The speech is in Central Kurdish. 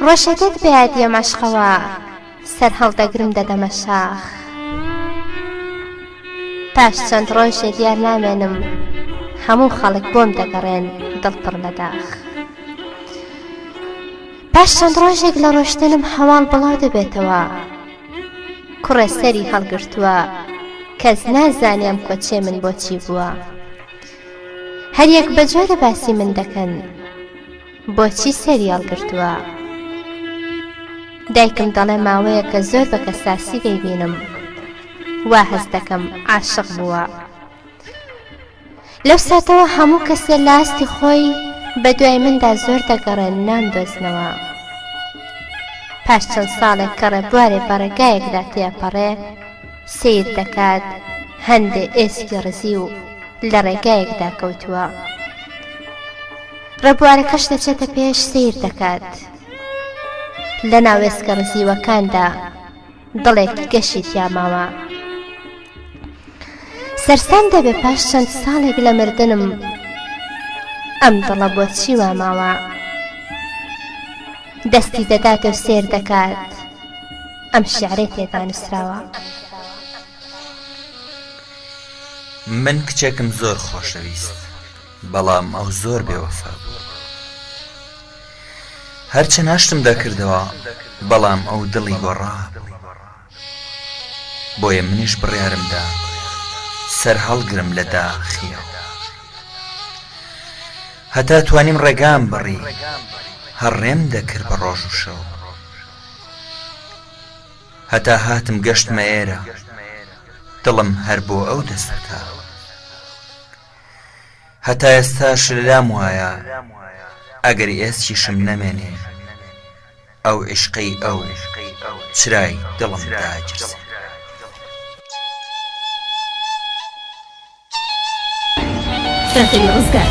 ڕەشەکەت بەیادی مەشقەوە سەرهەڵدەگرم دەدەمە شاخ پاش چەند ڕۆژێ دیار نامێنم هەموو خەڵک بۆم دەگەڕێن دڵ پڕ لە داخ پاش چەند ڕۆژێک لە ڕۆشتنم هەواڵ بڵاو دەبێتەوە کوڕێ سەری هەڵگرتووە کەس نازانێم کۆچێ من بۆچی بووە هەریەک بە جۆرە باسی من دەکەن بۆچی سەری هەڵگرتووە؟ دایکم دەڵێ ماوەیەکە زۆر بە کەساسی دەیبینم وا هەست دەکەم عاشق بووە لەو ساتەوە هەموو کەسێ لە ئاستی خۆی بە دوای مندا زۆر دەگەڕێن نامدۆزنەوە پاش چەند ساڵێک کە ڕێبوارێ بە ڕێگایەکدا تێپەڕێ سەیر دەکات هەندێ ئێسکی ڕزیو لە ڕێگایەکدا کەوتووە ڕێبوارەکەش دەچێتە پێش سەیر دەکات لە ناوێسکە ڕزیوەکاندا دڵێکی گەشی تیاماوە سەرسام دەبێ پاش چەند ساڵێک لە مردنم ئەم دڵە بۆ چی وا ماوە دەستی دەداتە سێر دەکات ئەم شیعرەی تێدا نووسراوە. من کچێکم زۆر خۆشەویست بەڵام ئەو زۆر بێوەفا بوو هەرچەند هەشتم دەکردەوە بەڵام ئەو دڵی گۆڕا بۆیە منیش بڕیارم دا سەرهەڵگرم لە داخیەوە هەتا توانیم ڕێگام بڕی هەڕێم دەکرد بە ڕۆژ و شەو هەتا هاتم گەشتمە ئێرە دڵم هەر بۆ ئەو دەسووتاوە هەتا ئێستاش لەلام وایە ئەگەر ئێسکیشم نەمێنێ ئەو عیشقەی ئەو چرای دڵم داگیرسێ دەقەی ڕزگار.